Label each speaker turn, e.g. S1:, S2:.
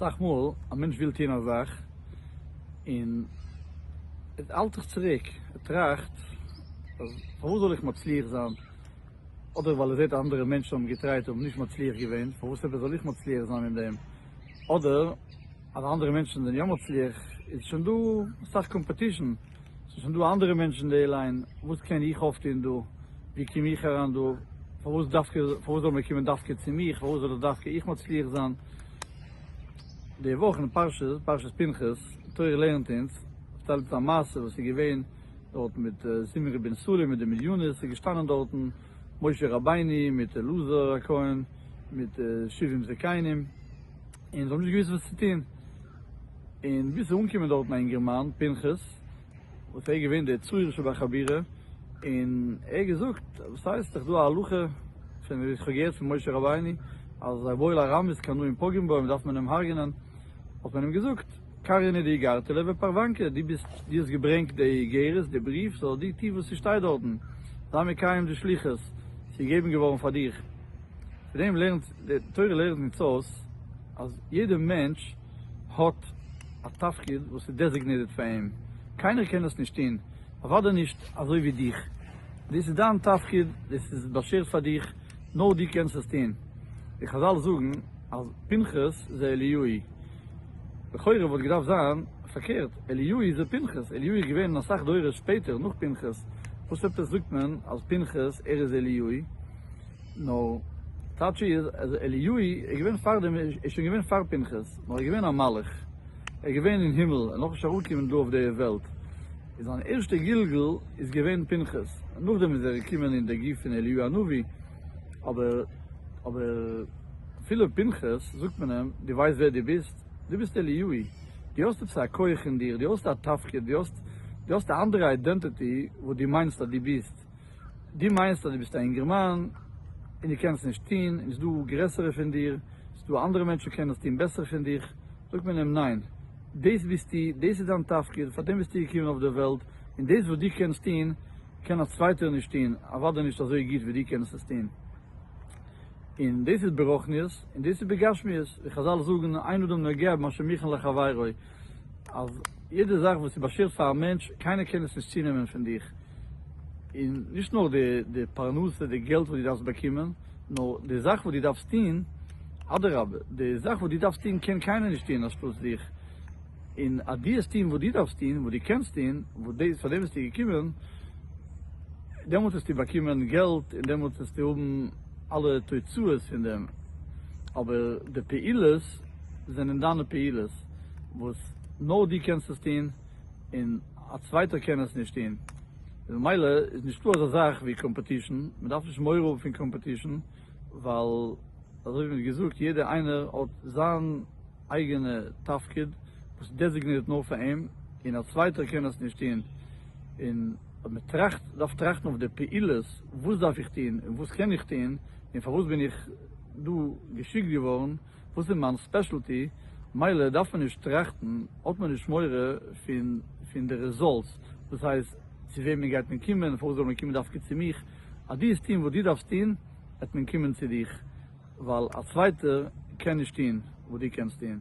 S1: אסאך מאל א מענטש וויל טון א זאך און ער האלט זיך צוריק, ער טראכט אז פארוואס זאל איך מצליח זיין, אדער ווייל ער זעט אנדערע מענטשן האבן געטרייט און נישט מצליח געווען, פארוואס אבער זאל איך מצליח זיין אין דעם, אדער. אז אנדערע מענטשן זענען יא מצליח איז שוין דא אסאך קאמפעטישן, ס'איז שוין דא אנדערע מענטשן אין די ליין, וואס קען איך אויפטון דא, ווי קום איך אריין דא, פארוואס דווקא, פארוואס זאל מען קומען דווקא צו מיך, פארוואס זאל איך דווקא איך מצליח זיין. די וואך אין פרשה, פרשת פנחס, תורה לערנט אונז, פארציילט אונז א מעשה וואס איז געווען דארטן מיט זמרי בן סלום מיט די מדינות, איז געשטאנען דארטן משה רבינו מיט אלעזר הכהן מיט שבעים זקנים, און זיי האבן נישט געוואוסט וואס צו טון, און ביז ס'איז אנגעקומען דארטן א אינגערמאן פנחס, וואס ער איז געווען דער צעיר שבחבורה, און ער האט געזאגט, וואס הייסט, ס'איז דאך דא א הלכה, שוין ווי איך האב געהערט פון משה רבינו, אז אויב עול הרמות קנאים פוגעים בו, דארף מען אים הרג'נען, האט מען אים געזאגט, קארין איז די גארטעלע ופארוואנקע, דו ביסט, דו האסט געברענגט די איגרת, די בריוו, זאל דיר טון וואס ס'שטייט דארטן, זיי מקיים די שליחות, ס'איז געגעבן געווארן פאר דיך. פון דעם לערנט, די תורה לערנט אונז אויס אז יעדע מענטש האט א תפקיד וואס איז דעזיגנעיטעד פאר אים, קיינער קען דאס נישט טון, אוודאי נישט אזוי ווי דיך, דאס איז דיין תפקיד, דאס איז באשערט פאר דיך, נאר דו קענסט עס טון. די חזל זאגן אז פנחס זה אליהוהי. לכאורה וואלט געדארפט זיין פארקערט, אליהו איז ער פנחס, אליהו איז געווען אסאך דורות שפעטער נאך פנחס, וואס עפעס זאגט מען אז פנחס ער איז אליהו, נו, טייטש איז אז אליהו איז געווען פאר דעם, ער איז שוין געווען פאר פנחס, נאר ער איז געווען א מלאך, ער איז געווען אין הימל, און נאך נישט אראפגעקומען דא אויף די וועלט, און זיין ערשטע גלגול איז געווען פנחס, נאכדעם איז ער געקומען אין די גוף פון אליהו הנביא. אבער אבער אפילו פנחס זאגט מען אים, דו ווייסט ווער דו ביסט? דו ביסט אליהו'י, דו האסט עפעס א כח אין דיר, דו האסט א תפקיד, דו האסט דו האסט א אנדערע איידענטעטי וואס דו מיינסט אז דו ביסט, דו מיינסט אז דו ביסט א אינגערמאן און דו קענסט נישט טון, און עס איז דא גרעסערע פון דיר, עס איז דא אנדערע מענטשן וואס קענען עס טון בעסער פון דיך, זאגט מען אים ניין, דאס ביסטו, דאס איז דיין תפקיד, פאר דעם ביסטו געקומען אויף דער וועלט, און דאס וואס דו קענסט טון, קען א צווייטער נישט טוהן, אוודאי נישט אזוי גוט ווי דו קענסט עס טוהן. און דאס איז ברוחניות, און דאס איז בגשמיות, ווי חזל זאגן אין אדם נוגע במה שמכין לחבירו, אז יעדע זאך וואס איז באשערט פאר א מענטש, קיינער קען עס נישט צונעמען פון דיך, און נישט נאר די פרנסה, די געלט וואס דו דארפסט באקומען, נאר די זאך וואס דו דארפסט טוהן, אדרבה, די זאך וואס דו דארפסט טוהן קען קיינער נישט טוהן אנשטאטס דיך. און אז דו וועסט טון וואס דו דארפסט טון, וואס דו קענסט טון, וואס דאס, פאר דעם ביסטו געקומען, דעמאלט וועסטו באקומען געלט און דעמאלט וועסטו האבן אלע תוצאות פון דעם, אבער די פעולות זענען דיינע פעולות, וואס נאר דו קענסט עס טון און א צווייטער קען עס נישט טון, ממילא איז נישטא אזא זאך ווי קאמפעטישן, מען דארף נישט מורא האבן פון קאמפעטישן, ווייל אזוי ווי מען האט געזאגט יעדער איינער האט זיין. אייגענע תפקיד וואס דעזיגנירט נאר פאר אים און א צווייטער קען עס נישט טון, און אז מען טראכט דארף טראכטן אויף די פעולות וואס דארף איך טון און וואס קען איך טון און פארוואס בין איך דא געשיקט געווארן, וואס איז מיין ספעשעלטי, מילא דארף מען נישט טראכטן, האט מען נישט מורא פון פון די רעזאלטס, דאס הייסט צו וועמען גייט מען קומען, פארוואס זאל מען קומען דווקא צו מיך, אז דו וועסט טון וואס דו דארפסט טון, וועט מען קומען צו דיך, ווייל א צווייטער קען נישט טון וואס דו קענסט טון.